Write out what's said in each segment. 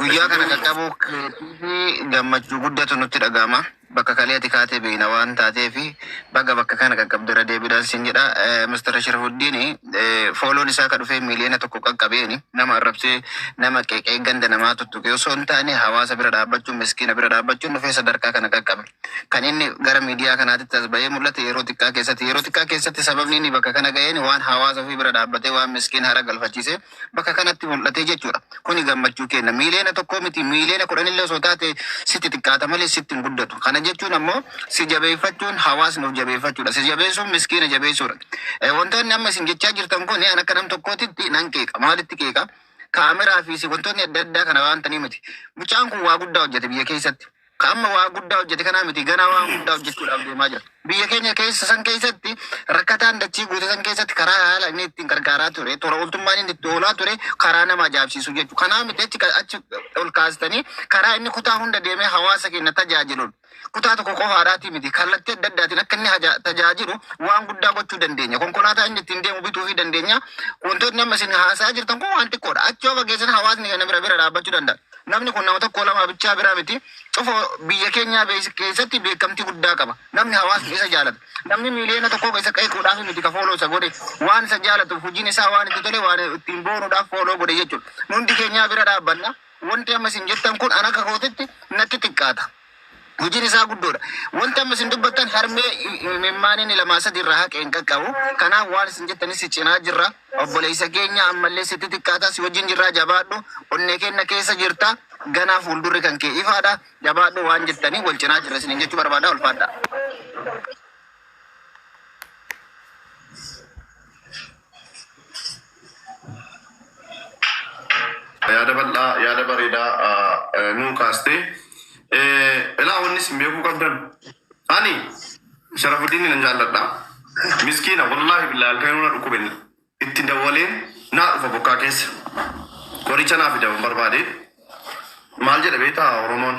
Guyyaa kana qaqqabuu keetiif gammachuu guddatu nutti dhaga'ama. Bakka kalee ati kaatee beekna waan taateef baga bakka kana qaqqabde irra deebiidhaan siin jedha. Mr. Sharafuddiin fooloon isaa ka dhufee miiliyoona tokko qaqqabeeni. Nama arrabsee nama qeeqee ganda namaa tuttuqee osoo hin taane hawaasa bira dhaabbachuun miskiina bira dhaabbachuun dhufee sadarkaa kana qaqqabe. Kan inni gara miidiyaa kanaatitti as bahee mul'ate yeroo xiqqaa keessatti yeroo xiqqaa keessatti sababni inni bakka kana ga'een waan hawaasa ofii bira dhaabbatee waan miskiin hara galfachiisee bakka kanatti mul'ate jechuudha. Kuni gammachuu kenna. Miiliyoona tokkoo miti miiliyoona kudhanillee osoo taate sitti xiqqaata malee sitti hin guddatu. Kana jechuun ammoo si jabeeffachuun hawaasni of jabeeffachuudha. Si jabeessuun miskiina jabeessuudha. Eh, Wantoonni amma isin jechaa jirtan kun an akka nam tokkootitti nan qeeqa. Maalitti qeeqa? Kaameraa fi si- wantoonni adda addaa kana waan ta'anii miti. Mucaan kun waa guddaa hojjete biyya keessatti. Ka amma waa guddaa hojjete kanaa miti ganaa waan guddaa hojjechuudhaaf deemaa jira. Biyya keenya keessa san keessatti rakkataan dachii guute san keessatti karaa haala inni ittiin gargaaraa ture tola ooltummaan inni itti oolaa ture karaa nama ajaa'ibsiisu jechuudha. Kanaa miti achi ka- achi ol kaastanii karaa inni kutaa hunda deemee hawaasa keenya tajaajiluun kutaa tokko qofaadhaatii miti kallattii adda addaatiin akka inni haja- tajaajilu waan guddaa gochuu dandeenya. Konkolaataa inni ittiin deemu bituu fi dandeenya. Wantootni amma isin haasa'aa jirtan kun waan xiqqoodha. Achi yoo fageessan hawaasni kana bira bira dhaabbachuu danda'a. Namni kun nama tokkoo lamaa bichaa biraa miti. Cufo biyya keenyaa beeksi keessatti beekamtii guddaa qaba. Namni hawaasni isa jaalatu. Namni miiliyoona tokkoo isa qeequudhaaf miti ka fooloo isa godhe. Waan isa jaalatuuf, hujiin isaa waan itti tole, waan ittiin boonuudhaaf fooloo godhe jechuudha. Nu hundi keenyaa bira dhaabbanna. Wanti amma isin jettan kun an akka kootitti natti xiqqaata. Hojiin isaa guddoodha. Wanti amma isin dubbattan harmee imimmaan inni lamaa sadi irraa haqe hin qaqqabu. Kanaaf waan isin jettanis si cinaa jirra. Obboleessa keenya ammallee sitti xiqqaata si wajjin jirraa jabaadhu. Onnee keenya keessa jirta. Ganaa fuuldurri kan kee ifaadha. Jabaadhu waan jettanii wal cinaa jirra isiniin jechuu barbaada ulfaadha. Yaada bal'aa, yaada bareedaa eh, nuu kaastee. Eh, Ilaa wanni isin beekuu qabdan. Ani Sharafuddin nan jaalladha. Miskiina wallaahi billaa halkan na dhukkube itti dawwaleen naa dhufa bokkaa keessa. Qoricha naa fidaman barbaade. Maal jedha beektaa Oromoon?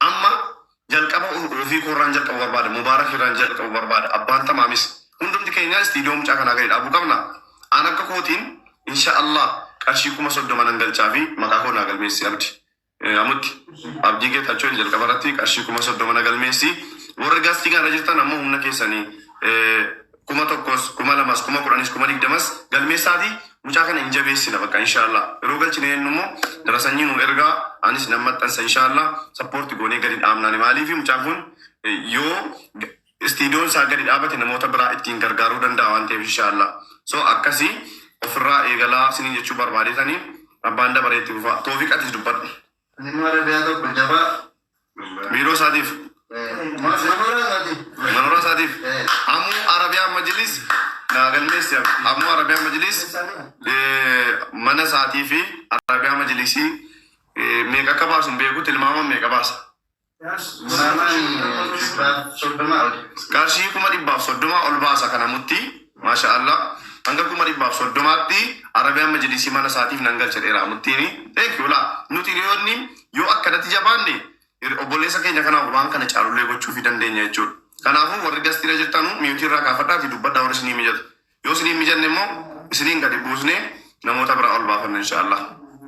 Amma jalqaba ofii koo irraan jalqabu barbaada. Mubaarak irraan jalqabu barbaada. Abbaan tamaamis hundumti keenyaa istiidiyoo mucaa kanaa gadi dhaabuu qabna. Aan akka kootiin insha Allah qarshii kuma soddoma nan galchaa fi maqaa koo naa galmeessi abdi. Eh, Amutti abdii geetachoo jalqaba irratti qarshii kuma soddoma na galmeessi. Warri gaastii kana irra jirtan ammoo humna keessanii eh, kuma tokkos kuma lamas kuma kudhanis kuma digdamas galmeessaati mucaa kana hin jabeessina bakka inshaallah yeroo galchine jennu immoo darasanyii nu ergaa anis nan maxxansa inshaallah sappoorti goonee gadi dhaabnaani maaliifi mucaan kun eh, yoo g- istiidiyoon isaa gadi dhaabate namoota biraa ittiin gargaaruu danda'a waan ta'eef inshaallah so akkasii ofirraa eegalaa sinin jechuu barbaadeetanii abbaan dabareetti fufaa toofiqatis dubbadhu Inni warra biyyaa tokko jabaaf. Biiroo isaatiif. Manooraa isaatiif. Manooraa isaatiif. Amuu Arabiyaan Majiliis naa galmeessi yaa. Amuu Arabiyaan Majiliis mana isaatii fi Arabiyaa Majiliisii meeqa akka baasu hin beeku tilmaama meeqa baasa. Qarshii kuma dhibbaaf soddoma ol baasa kana muttii maasha Allah hanga kuma dhibbaaf soddomaatti Arabian majlisii mana isaatiif nan galcha dheeraa muttiini thank you laa nuti hiriyoonni yoo akkanatti jabaanne hir- obboleessa keenya kana waan kana caalullee gochuufi dandeenya jechuudha kanaafuu warri gastiira jirtanu miyuutii irraa kaafadhaati dubbadha warri isinii mijatu yoo isinii mijanne immoo isiniin gadi buusne namoota biraa ol baafanna insha Allah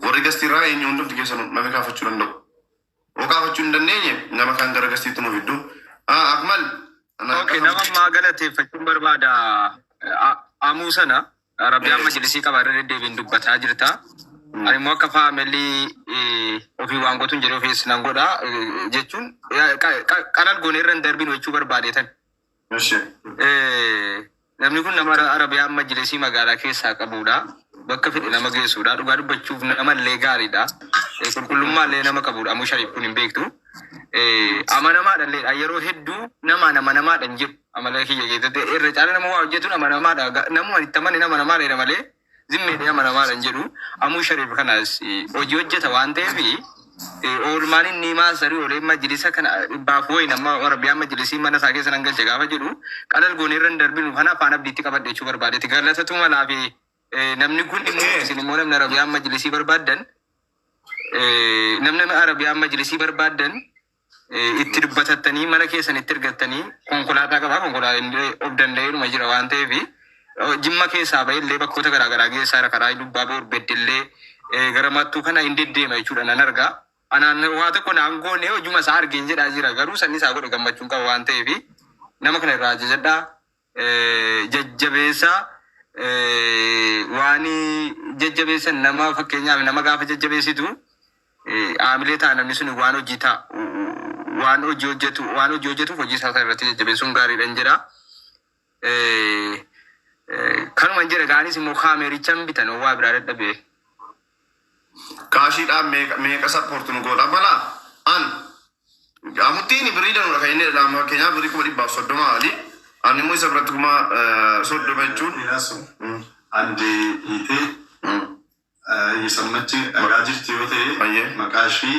warri gastiirraa eenyu hundumti keessanu namni kaafachuu danda'u Mukaafachuu hin dandeenye nama kan garagarsiitu nu fiddu. Ah, Akmal. ana- Okay, nama ammaa galateeffachuun barbaada. A- Amuu sana Rabbi amma jilisii qaba irra deddeebiin dubbataa jirta. Ani immoo akka faamilii eh, ofii waan gootuun jedhee ofiis nan godha eh, jechuun eh, qa- qa- qalal goonee irra hin darbinu jechuu barbaadeetan. Namni kun nama Arabiyaa amma jiresii magaalaa keessaa qabudha. Bakka fedhe nama geessudha. Dhugaa dubbachuuf nama illee gaariidha. Eh, Qulqullummaa illee nama qabudha. Amuu shariif kun hin beektu. Eh, Amanamaadha illee yeroo hedduu namaan amanamaadha hin jiru. Amala kiyya keessatti irra caala nama waa hojjetuun amanamaadha. Ga- Namuma itti amane nama namaadha jedha malee Zim media amanamaadha hin jedhu. Amuu Shariif kanas eh, hojii hojjeta waan ta'eef eh, oolmaan inni maasarii olee majlisa kana dhibbaaf wayi nama warabiyaa majlisii mana isaa keessa nan galcha gaafa jedhu qalal goonee irra hin darbinu kana afaan abdiitti qabadhe jechuu barbaadeti galatatu malaa fi eh, namni kun immoo isin immoo namni arabiyaan majlisii barbaaddan eh, namni arabiyaan majlisii barbaaddan itti dubbatattanii mana keessanitti ergattanii konkolaataa qabaa konkolaataa of danda'eedhuma jira waan ta'eef jimma keessaa ba'e illee bakkoota garaa garaa geessaa jira karaa dubbaa boor beddellee gara mattuu kana hin deddeema jechuudha nan argaa anaan waa tokko naan goone hojuma isaa argeen jedhaa jira garuu sanni isaa godhe gammachuun qaba waan ta'eef nama kana irraa ajajadhaa jajjabeessa waani jajjabeessan nama fakkeenyaaf nama gaafa jajjabeessitu haamilee ta'a namni sun waan hojii ta'a waan hojii hojjetu waan hojii hojjetuuf hojii isaa sana irratti jajjabeessuun gaariidhan jira. Kanuman jedha gaanis immoo kaameerichan bitan waa biraa dadhabee. Kaashii dhaan meeqa meeqa support nu goota bala an amuttiin birrii danudha kan inni jedha amma fakkeenyaaf birrii kuma dhibbaaf soddoma ali ani immoo isa biratti kuma eh, soddoma jechuun Dhiyasu. Mm, Adde hiitee mm, eh, yesammachi dhagaa jirti yoo ta'e ayyee maqaa ishii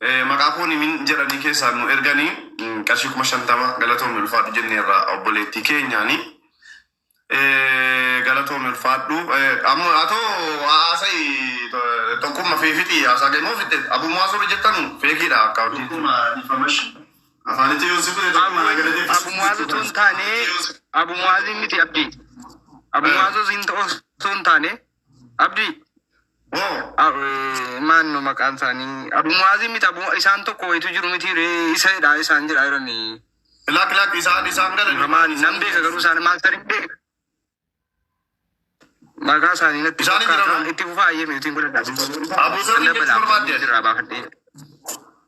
Eh, Maqaa koo nimin jedhanii keessaan nu erganii mm, qarshii kuma shantama galatoomi ulfaadhu jenneerra obboleettii keenyaani. Eh, Galatoomi ulfaadhu. Eh, Amma atoo haasa'i to- tokkumma fi fixii haasaa kee moo fixxee? Abuuma haasuu jettan feekiidha akkaawuntii. Tokkumma dhiifamashi. Afaanitti yoo si fudhe tokkumma na galatee. Abu Muazu tun taane Abu Muazi miti abdi. Abu Muazu hin ta'u sun taane Abdii. Moo ab- eh, maanno maqaan isaanii abu mu'aazii miti abu isaan tokko wayitu jiru miti ree isa jedha isaan jedha jirani Lak lak isaan isaan gara maal nan beeka garuu isaan maastar hin beeka maqaa isaanii natti Isaan hin fakkaata jedhaman. itti fufaa ayyee mi'uutiin godhadhaa Abu Zarri jechuu barbaadde? irraa baafadhee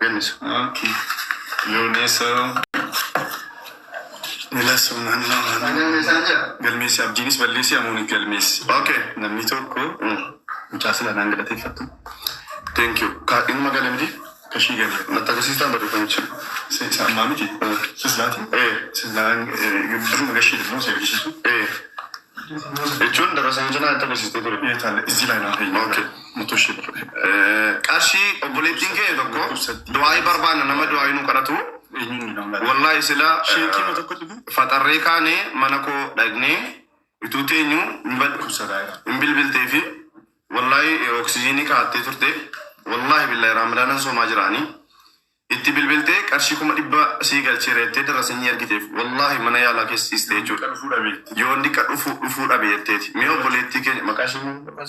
Ganis ok yoonesa Ila sunan galmeessi abdiinis balleessi amooni galmeessi ok namni tokko mucaa sila naan galateeffattu thank you ka inuma gale miti kashii gale natti agarsiistaan barreeffamicha se isa ammaa miti sislaati ee silaan duruma gashii demoo si argisiisu ee Jechuun darasa yoo jenaa itti agarsiistee ture. Ee taale izii laa naa fayyee. Okay. Motoo ishee barre. Qarshii obboleettiin kee tokko du'aayii barbaanna nama du'aayii nu kadhatu. Eenyuun nama laata? Wallahi sila Sheekii ma tokko dhufu? faxarree kaane mana koo dhagnee ituu teenyu hin bad- Dhukkubsataa jira. hin bilbiltee fi wallahi oksijiinii kaattee turte wallahi billahi raamdaanan soomaa jiraanii Itti bilbiltee qarshii kuma dhibba sii galcheera jettee dirra sanyii ergiteef wallahi mana yaalaa keessa ciiste jechuudha. Yoon diqqa dhufu dhufuu dhabe jetteeti. Mee obboleettii keenya maqaa ishee maal jedhama?